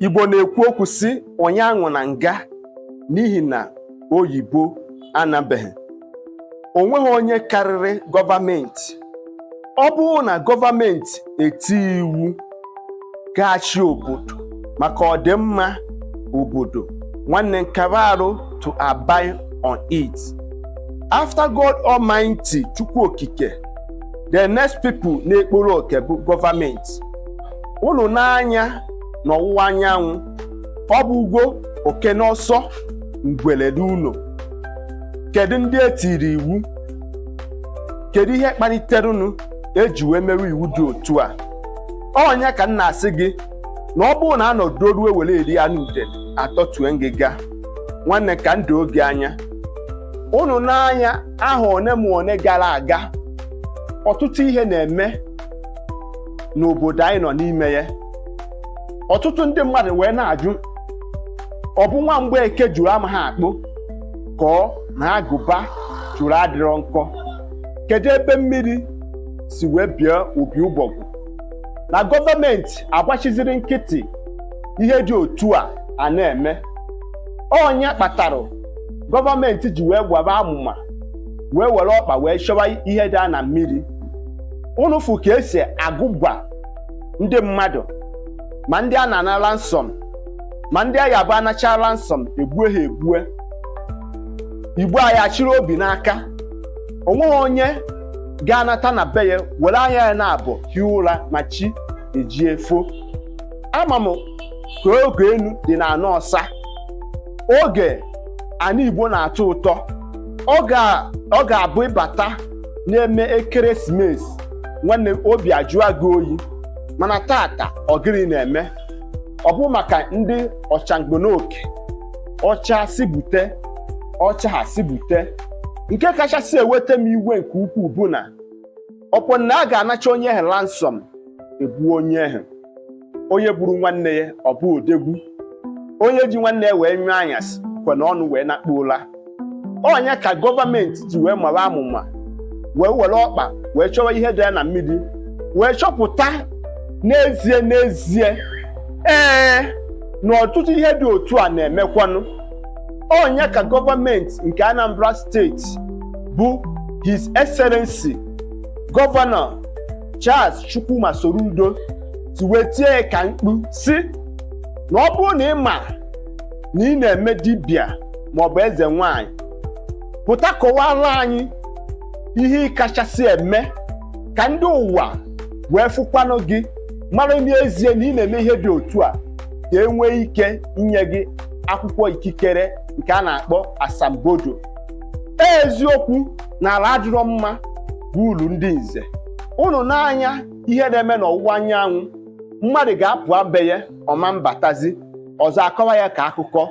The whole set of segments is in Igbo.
Igbo na-ekwu okwu sị onye aṅụna nga n'ihi na oyibo anabeghị o nweghị onye karịrị gọọmenti ọ bụrụ na gọọmenti etie iwu ga-achị obodo maka ọdịmma obodo nwanne nkara arụ to abide on it after God Almighty Chukwu Okike the next people na-ekporo oke bụ gọọmenti unu nee anya n'ọwụwa anyanwụ ọ bụrụgo oke n'ọsọ ngwele n'ụlọ kedu ndị e tiri iwu kedu ihe kpaliterenụ e ji wee mewe iwu dị otu a ọ nya ka m na-asị gị na ọ bụrụ na anọdụ ruo were eri anụ ude atọtue ngịga nwanne ka ndụ oge anya unu nee anya ahọ one ma one gara aga ọtụtụ ihe na-eme n'obodo anyị nọ n'ime ya ọtụtụ ndị mmadụ wee na-ajụ ọ bụ nwa Mgbeke juru amaha akpụ ka ọ na agụba juru adịrọ nkọ kedu ebe mmiri si wee bịa opi ụgbọgụ na gọọmenti agbachiziri nkịtị ihe dị otu a a na-eme ọ nya kpatara gọọmenti ji wee gwaba amụma wee were ọkpa wee chọwa ihe dị na mmiri unu fụ ka e si agụgwa ndị mmadụ ma ndị a na-ana ransom ma ndị a ga-abụ a nacha ransom egbue ha egbue Igbo anyị achịrị obi n'aka o nweghị onye ga-anata na be ya were anya ya naabọ hie ụra ma chi ejie fo ama m ka oge enu dị na ana ọsa oge ana Igbo na-atọ ụtọ ọ ga- ọ ga-abụ ị bata na-eme ekeresimesi nwanne m, obi ajụọ gị oyi mana taata ọ gịnị na-eme ọ bụ maka ndị ọchangbonoke ọcha si bute ọcha ha si bute nke kachasị eweta m iwe nke ukwuu bụ na ọ bụ na a ga-anacha onye ahụ ransom egbue onye ahụ onye gburu nwanne ya ọ bụ odogwu onye ji nwanne ya wee nyụọ anyasị kwe na ọnụ wee nakpuo ụla ọ nya ka gọọmenti ji wee mara amụma wee were ọkpa wee chọwa ihe dị ya na mmiri wee chọpụta n'ezie n'ezie ee na ọtụtụ ihe dị otu a na-emekwanụ ọ nya ka gọọmenti nke Anambra steeti bụ His Excellency Gọvanọ Charles Chukwuma Soludo si wee tie ya ka mkpu si na ọ bụrụ na ị ma na ị na-eme dibịa maọbụ eze nwanyị pụta kọwara anyị ihe ị kachasị eme ka ndị ụwa wee fụkwanụ gị mara n'ezie na ị na-eme ihe dị otu a ka e nwee ike inye gị akwụkwọ ikikere nke a na-akpọ asambodo eziokwu na ala adịrọ mma bụ ulu ndị nze unu nee anya ihe na-eme n'ọwụwa anyanwụ mmadụ ga-apụ be ya ọ ma mbatazi ọzọ a kọwa ya ka akụkọ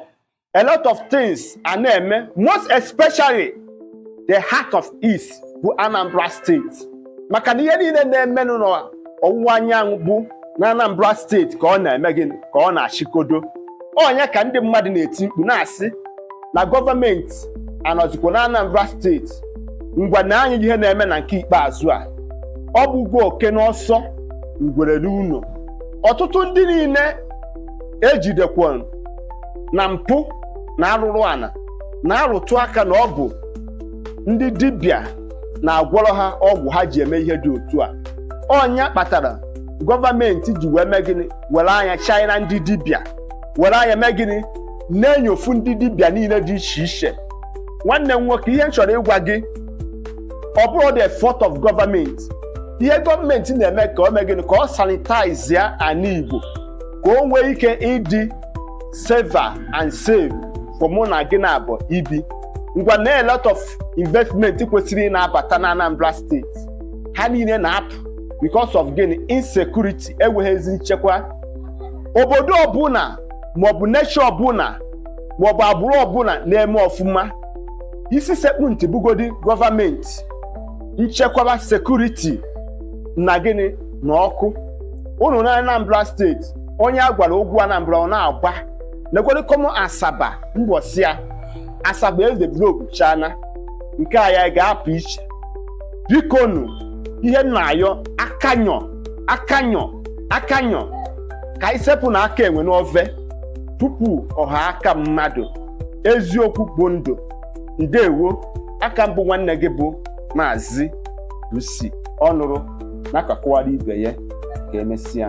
a lot of things a na-eme most especially the heart of East bụ Anambra steeti maka na ihe niile na-emenụ n'ọwụwa anyanwụ bụ na Anambra steeti ka ọ na-eme gịnị ka ọ na-achịkodo ọ nya ka ndị mmadụ na-eti mkpu na-asị na gọọmenti anọzikwa na Anambra steeti ngwa nee anya ihe na-eme na nke ikpeazụ a ọ bụgo oke n'ọsọ ngwere n'ụlọ ọtụtụ ndị niile ejidekwa na mpụ na arụrụ ana na-arụtụ aka na ọ bụ ndị dibịa na-agwọrọ ha ọgwụ ha ji eme ihe dị otu a ọ nya kpatara gọọmenti ji wee mee gịnị were anya china ndị dibịa were anya mee gịnị na-enyofu ndị dibịa niile dị iche iche nwanne m nwoke ihe m chọrọ ịgwa gị ọ bụrọ the fault of government ihe gọọmenti na-eme ka o mee gịnị ka ọ sanitize ya ana Igbo ka o nwee ike ịdị safer and safe for mụ na gị naabọ ibi ngwa nee a lot of investment kwesịrị ị na-abata na Anambra steeti ha niile na-apụ because of gịnị insecurity enweghị ezi nchekwa obodo ọbụla maọbụ nation ọbụla maọbụ agbụrụ ọbụla na-eme ọfụma isi sekpụ ntị bụgodi gọọmenti nchekwaba security na gịnị na ọkụ unu na Anambra steeti onye a gwara okwu Anambra ọ na-agba lekwere kọmọ Asaba mbọsị ya Asaba edevelop chana nke a ya ga-apụ iche bikonu ihe na-ayọ akanyọ akanyọ akanyọ ka anyị sepụnụ aka enwe n'ofe tupu ọ ghọọ aka mmadụ eziokwu bụ ndụ ndewo a ka m bụ nwanne gị bụ Maazị UC ọ nụrụ na-akọkwara ibe ya ka emesịa